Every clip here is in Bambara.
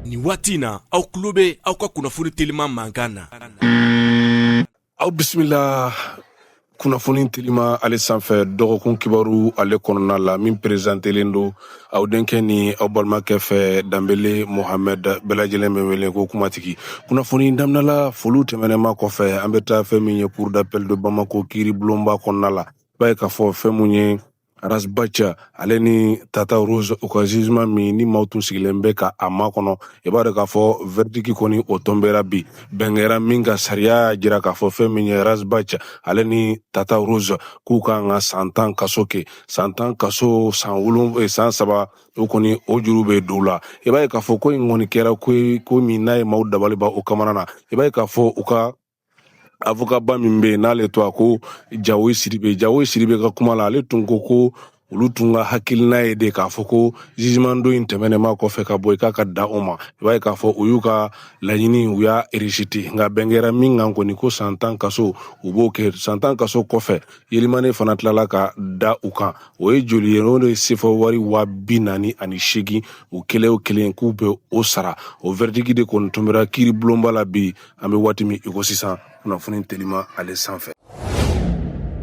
Ni waati in na aw tulo bɛ aw ka kunnafoni teliman mankan na aw bisimila kunnafoni telima ale sanfɛ dɔgɔkun kibaru ale kɔnɔna la min perezantelen don aw denkɛ ni aw balimakɛ fɛ danbele mohamɛd bɛɛ lajɛlen bɛ wele ko kumatigi kunnafoni daminɛla foliw tɛmɛnen ma kɔfɛ an bɛ taa fɛn min ye cour d'appel de bamako kiiribulonba kɔnɔna la b'a ye k'a fɔ fɛn mun ye Ras Bath ale ni Tata Rose u ka jugement min ni maaw tun sigilen bɛ ka a makɔnɔ i b'a dɔn k'a fɔ verdict kɔni o tɔnbera bi bɛn kɛra min kan sariya y'a jira k'a fɔ fɛn min ye Ras Bath ale ni Tata Rose k'u ka kan ka san tan kaso kɛ san tan kaso san wolon eh, san saba o kɔni o juru bɛ don u la i b'a ye k'a fɔ ko in kɔni kɛra ko ye ko min n'a ye maaw dabali ban o kamana na i b'a ye k'a fɔ u ka avokaba min bɛ yen n'ale tɔgɔ ko jawoyi sidibe jawoyi sidibe ka kuma la ale tun ko ko olu tun ka hakilina ye de k'a fɔ ko jugement don in tɛmɛnen ma kɔfɛ ka bɔ i k'a ka da o ma i b'a ye k'a fɔ u y'u ka laɲini u y'a rejeté nka bɛn kɛra min kan kɔni ko san tan kaso u b'o kɛ san tan kaso kɔfɛ alamani fana tilala ka da u kan o ye joli ye o de sefa wari wa bi naani ani seegin u kelen o kelen k'u bɛ o sara o verdict de kɔni tɔnbera kiiri bulonba la bi an bɛ waati min iko sisan kunnafoni telima ale sanfɛ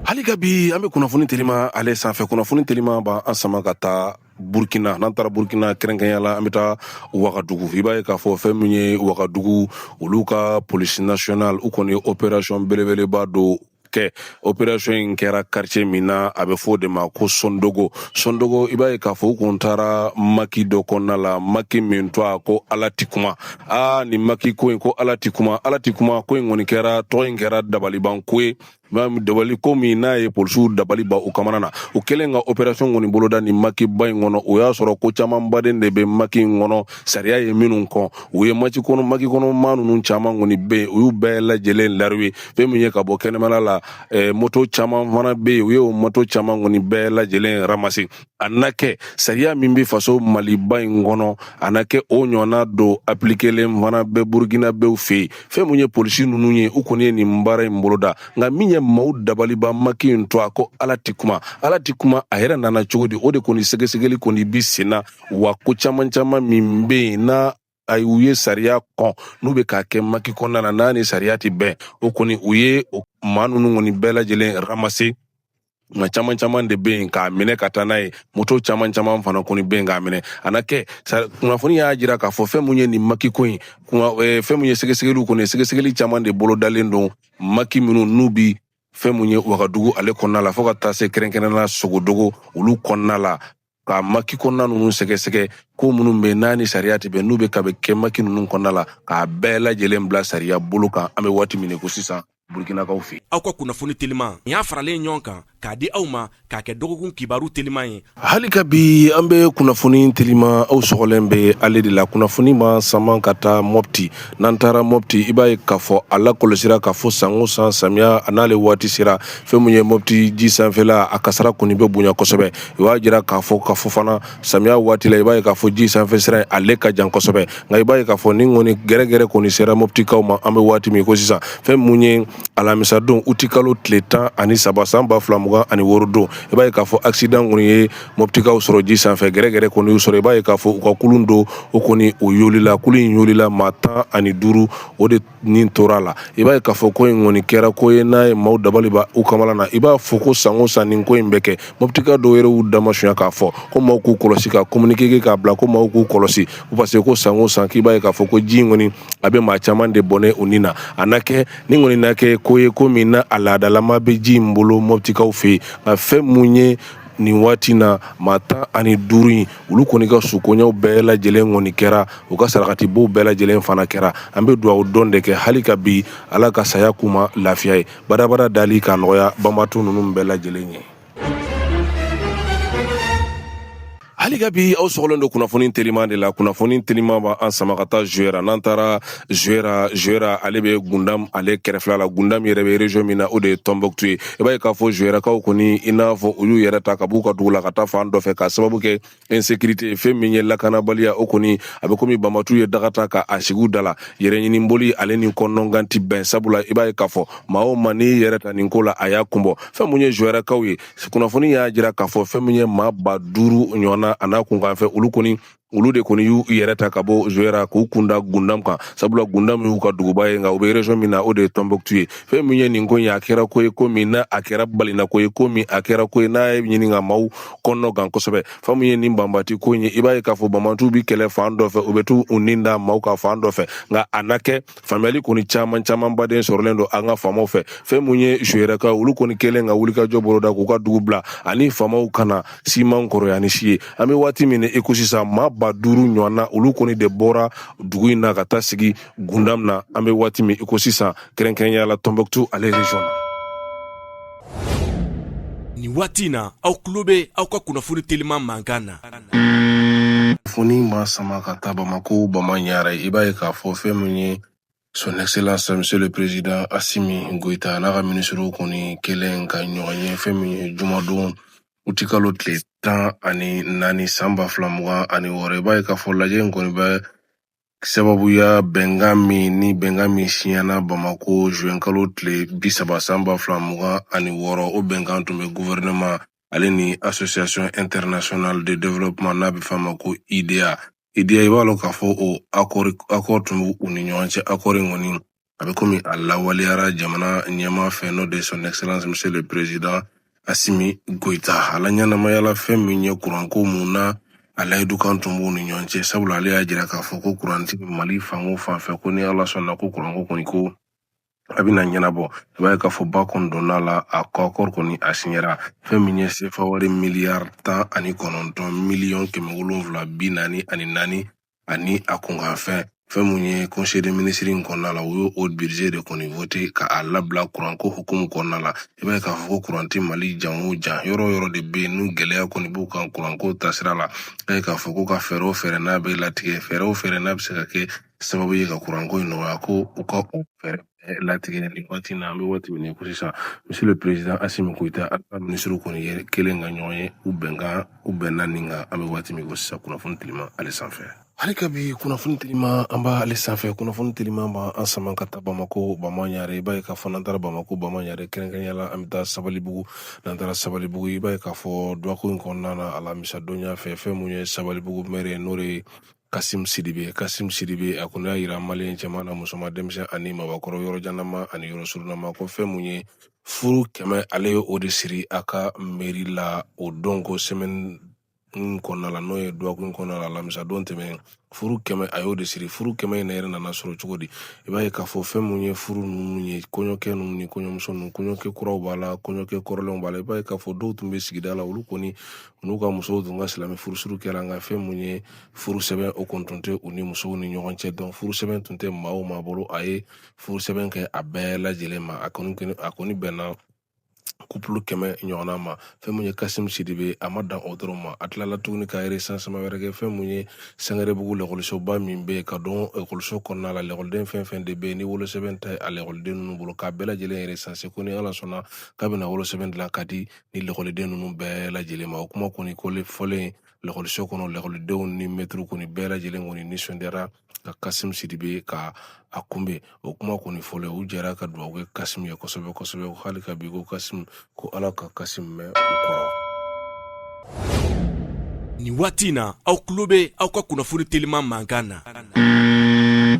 hali ka bi an bɛ kunnafoni telima ale sanfɛ kunnafoni telima b'an sama ka taa burkina n'an taara burkina kɛrɛnkɛrɛnya la an bɛ taa wagadugu i b'a ye k'a fɔ fɛn min ye wagadugu olu ka polisi nasiyɔnali u kɔni ye operasiyɔn belebeleba dɔ kɛ operation in kɛra quartier min na a bɛ fɔ o de ma ko sondogo sondogo i b'a ye k'a fɔ u kun taara maki dɔ kɔnɔna la maki min tɔgɔ ko ala ti kuma aa nin maki ko in ko ala ti kuma ala ti kuma ko in kɔni kɛra tɔgɔ in kɛra dabaliban ko ye dabali ko min n'a ye polisiw dabali ban u kamana na u kɛlen ka operation kɔni boloda nin makiba in kɔnɔ o y'a sɔrɔ ko camanba de bɛ maki in kɔnɔ sariya ye minnu kɔn u ye maki kɔnɔ maki kɔnɔ maa ninnu caman kɔni bɛ yen u y'u bɛɛ lajɛlen lariwe fɛn min ye ka bɔ kɛnɛmana la eh, moto caman fana bɛ yen u y'o moto caman kɔni bɛɛ lajɛlen ramase a na kɛ sariya min bɛ faso maliba in kɔnɔ a na kɛ o ɲɔgɔnna dɔ apilikelen fana bɛ burukinabɛw fɛ yen fɛn min ye polisi ninnu ye u kɔni ye nin baara in boloda nka min ye maaw dabali ban maki in tɔgɔ ko ala tɛ kuma ala tɛ kuma a yɛrɛ nana cogo di o de kɔni sɛgɛsɛgɛli kɔni bi sen na wa ko caman caman min bɛ yen n'a a ye u ye sariya kɔn n'u bɛ k'a kɛ maki kɔnɔna na n'a ni sariya tɛ bɛn o kɔni u ye maa ninnu kɔni bɛɛ lajɛlen ramase nka caman caman de bɛ yen k'a minɛ ka taa n'a ye moto caman caman fana kɔni bɛ yen k'a minɛ a na kɛ kunnafoni y'a jira k'a fɔ fɛn mun ye nin maki ko in eh, fɛn mun ye sɛgɛsɛgɛliw kɔni sɛgɛsɛgɛli caman de bolodalen don maki minnu n'u bi fɛn mun ye wagadugu ale kɔnɔna la fo ka taa se kɛrɛnkɛrɛnnenya sondogo olu kɔnɔna la ka maki kɔnɔna ninnu sɛgɛsɛgɛ ko minnu bɛ n'a ni sariya tɛ bɛn n'u bɛ ka bɛ kɛ maki ninnu kɔnɔna la k'a bɛɛ lajɛlen bila sariya bolo kan an bɛ waati min i ko sisan burkinakaw fɛ aw ka kunnafoni teliman nin y'a faralen ɲɔgɔn kan k'a di aw ma k'a kɛ dɔgɔkun kibaru teliman ye hali ka bi an bɛ kunnafoni teliman aw sɔgɔlen bɛ ale de la kunnafoni b'an sama ka taa mɔpti n'an taara mɔpti i b'a ye k'a fɔ a lakɔlɔsira k'a fɔ san o san samiya a n'ale waati sera fɛn min ye mɔpti ji sanfɛla a kasara kɔni bɛ bonya kosɛbɛ u y'a jira k'a fɔ ka fɔ fana samiya waati la i b'a ye k'a fɔ ji sanfɛ sira ale ka jan kosɛbɛ nka i b'a ye k'a fɔ nin kɔni gɛrɛgɛrɛ kɔni sera moptikaw ma an bɛ waati min i ko sisan fɛn mun ye alamisadon utikalo tile tan ani saba san ba fila mugan ani wɔɔrɔ don i b'a ye k'a fɔ accident kɔni ye moptikaw sɔrɔ ji sanfɛ gɛrɛgɛrɛ kɔni y'u sɔrɔ i b'a ye k'a fɔ u ka kulun dɔ o kɔni o yolila kulun in yolila maa tan ani duuru o de ni tora a la i b'a ye k'a fɔ ko in kɔni kɛra ko ye n'a ye maaw dabali ban u kamala na i b'a fɔ ko san o san nin ko in bɛ kɛ mɔputika dɔw yɛrɛ y'u damasuya k'a fɔ ko maaw k'u kɔlɔsi ka kominike kɛ k'a bila ko maaw k'u kɔlɔsi parce que ko san o san k'i b'a ye k'a fɔ ko ji in kɔni a bɛ maa caman de bɔnɛ u ni na a na kɛ ni kɔni na kɛ ko ye ko min na a laadalama bɛ ji in bolo mɔputikaw fɛ yen nka fɛn mun ye nin waati na maa tan ani duuru in olu kɔni ka sukoɲɛw bɛɛ lajɛlen kɔni kɛra u ka sarakatibɔw bɛɛ lajɛlen fana kɛra an bɛ duwawu don de kɛ hali ka bi ala ka saya k'u ma lafiya ye badabada dali ka nɔgɔya banbaatɔ nunu bɛɛ lajɛlen ye hali ka bi aw sɔgɔlen don kunnafoni teliman de la kunnafoni teliman b'an sama ka taa zuwɛra n'an taara zuwɛra zuwɛra ale bɛ gundam ale kɛrɛfɛla la gundam yɛrɛ bɛ region min na o de ye tɔnbɔkutu ye i b'a ye k'a fɔ zuwɛrakaw kɔni i n'a fɔ olu y'u yɛrɛ ta ka b'u ka dugu la ka taa fan dɔ fɛ k'a sababu kɛ insécurité fɛn min ye lakanabaliya o kɔni a bɛ komi banbaantiw ye daga ta ka a sigi u da la yɛrɛɲiniboli ale ni kɔnɔgan ti bɛn sabula i b'a ye k'a fɔ maa o maa n'i yɛrɛ ta nin ko la a y'a kunbɔ fɛn mun ye zuwɛrakaw ye kunnafoni y'a jira k'a fɔ fɛn min ye maa ba duuru ɲɔgɔnna a n'a kunkanfɛn olu kɔni olu de kɔni y'u yɛrɛ ta ka bɔ zuwɛra k'u kunda gundam kan sabula gundam y'u ka duguba ye nka u bɛ region min na o de ye tɔnbɔkutu ye fɛn min ye nin ko ye a kɛra ko ye ko min na a kɛra balina ko ye ko min a kɛra ko ye n'a ye ɲini ka maaw kɔnɔgan kosɛbɛ fɛn min ye nin banbaanti ko ye i b'a ye k'a fɔ banbaantiw bi kɛlɛ fan dɔ fɛ u bɛ t'u nin da maaw kan fan dɔ fɛ nka a na kɛ faamuyali kɔni caman caman baden sɔrɔlen don an ka faamaw fɛ fɛn mun ye zuwɛrakaw olu kɔni kɛlen ka wulikajɔ boloda k'u ka dugu bila ani faamaw kana siman kɔrɔya ni si ye an bɛ waati min i ko sisan maa ba duuru ɲɔgɔnna olu kɔni de bɔra dugu in na ka taa sigi gundam na an bɛ waati min i ko sisan kɛrɛnkɛrɛnya la tɔnbɔkutu ale region na Nin waati in na aw tulo bɛ aw ka kunnafoni teliman mankan na kunnafoni b'an sama ka taa bamako bama ɲare i b'a ye k'a fɔ fɛn min ye son excellence monsieur le président asimi goyita n'a ka minisiriw kɔni kɛlen ka ɲɔgɔn ye fɛn min ye jumadon utikalo tile tan ani naani san ba fila mugan ani wɔɔrɔ i b'a ye k'a fɔ lajɛ in kɔni bɛ sababuya bɛnkan min ni bɛnkan min siɲɛna bamako zuwɛnkalo tile bi saba san ba fila mugan ani wɔɔrɔ o bɛnkan tun bɛ gouvernement ale ni association internationale de développement n'a bɛ f'a ma ko IDA IDA i b'a lɔn k'a fɔ o accord tun bɛ u ni ɲɔgɔn cɛ accord in kɔni a bɛ komi a lawaleyara jamana ɲɛmaa fɛ n'o de ye son excellence monsieur le président asimi goyita a laɲɛnamayala fɛn min ye kuranko mun na a layidu kan tun b'u ni ɲɔgɔn cɛ sabula ale y'a jira k'a fɔ ko kuran tɛ mali fan o fan fɛ ko ni ala sɔnna ko kuranko kɔni ko a bɛna ɲɛnabɔ i b'a ye k'a fɔ ba kɔni donna la a ka accord kɔni a siɲɛra fɛn min ye sefa wari miliyari tan ani kɔnɔntɔn miliyɔn kɛmɛ wolonwula bi naani ani naani ani a kunkanfɛn fɛn mun ye conseil des ministres in kɔnɔna la u y'o o budget de kɔni vote ka a labila kuranko hukumu kɔnɔna la i b'a ye k'a fɔ ko kuran tɛ mali jan o jan yɔrɔ o yɔrɔ de bɛ yen n'u gɛlɛya kɔni b'u kan kuranko taasira la i b'a ye k'a fɔ ko u ka fɛɛrɛ o fɛɛrɛ n'a bɛ latigɛ fɛɛrɛ o fɛɛrɛ n'a bɛ se ka kɛ sababu ye ka kuranko in nɔgɔya ko u ka o fɛɛrɛ eh, latigɛ nin waati na an bɛ waati min ko sisan monsieur le président asimi goyita a ka minisiriw kɔni ye kelen ka ɲɔgɔn ye u bɛnkan u bɛnna nin kan an bɛ waati min ko sisan kunnafoni telima ale sanfɛ hali ka bi kunnafoni telima an bɛ ale sanfɛ kunnafoni telima b'an sama ka taa bamako bama ɲare i b'a ye k'a fɔ n'an taara bamako bama ɲare kɛrɛnkɛrɛnya la an bɛ taa sabalibugu n'an taara sabalibugu i b'a ye k'a fɔ dɔgɔkun in kɔnɔna na alamisa donya fɛ fɛn mun ye sabalibugu mɛri n'o de ye Kasim Sidibe Kasim Sidibe a kɔni y'a yira maliyɛn cɛman ani musoman denmisɛn ani mabakɔrɔ yɔrɔ janama ani yɔrɔ surunama ko fɛn mun ye furu kɛmɛ ale ye o de siri a ka mɛri la o don ko sɛmɛni in kɔnɔna la n'o ye dɔgɔkun kɔnɔna la alamisa don tɛmɛnen furu kɛmɛ a y'o de siri furu kɛmɛ in yɛrɛ nana sɔrɔ cogo di i b'a ye k'a fɔ fɛn mun ye furu ninnu ye kɔɲɔkɛ ninnu ni kɔɲɔmuso ninnu kɔɲɔkɛ kuraw b'a la kɔɲɔkɛ kɔrɔlenw b'a la i b'a ye k'a fɔ dɔw tun bɛ sigida la olu kɔni n'u ka musow tun ka silamɛ furusiri kɛra nka fɛn mun ye furu sɛbɛn o kɔni tun tɛ u ni musow ni ɲɔgɔn cɛ donc furu sɛbɛn tun tɛ maa o maa bolo a ye furu sɛbɛn kɛ a bɛɛ lajɛlen ma a kɔni a kɔni bɛnna couple kɛmɛ ɲɔgɔnna ma fɛn mun ye kasimu sidibe a ma dan o dɔrɔn ma a tilala tuguni ka recensement wɛrɛ kɛ fɛn mun ye sangarebugu lakɔlisoba min bɛ yen ka don ekɔliso kɔnɔna la lakɔliden fɛn o fɛn de bɛ yen ni wolosɛbɛn tɛ a lakɔliden ninnu bolo k'a bɛɛ lajɛlen recenser ko ni ala sɔnna k'a bɛna wolosɛbɛn dilan ka di ni lakɔliden ninnu bɛɛ lajɛlen ma o kuma kɔni koli fɔlen lakɔliso kɔnɔ lakɔlidenw ni mɛtiriw kɔni bɛɛ lajɛlen kɔni nisɔndiyara ka kasimu sidibe ka a kunbɛn o kuma kɔni fɔlen u jɛra ka dugawu kɛ kasimu ye kosɛbɛ kosɛbɛ hali ka bi ko kasimu ko ala ka kasimu mɛn u kɔrɔ nin waati in na aw tulo bɛ aw ka kunnafoni teliman mankan na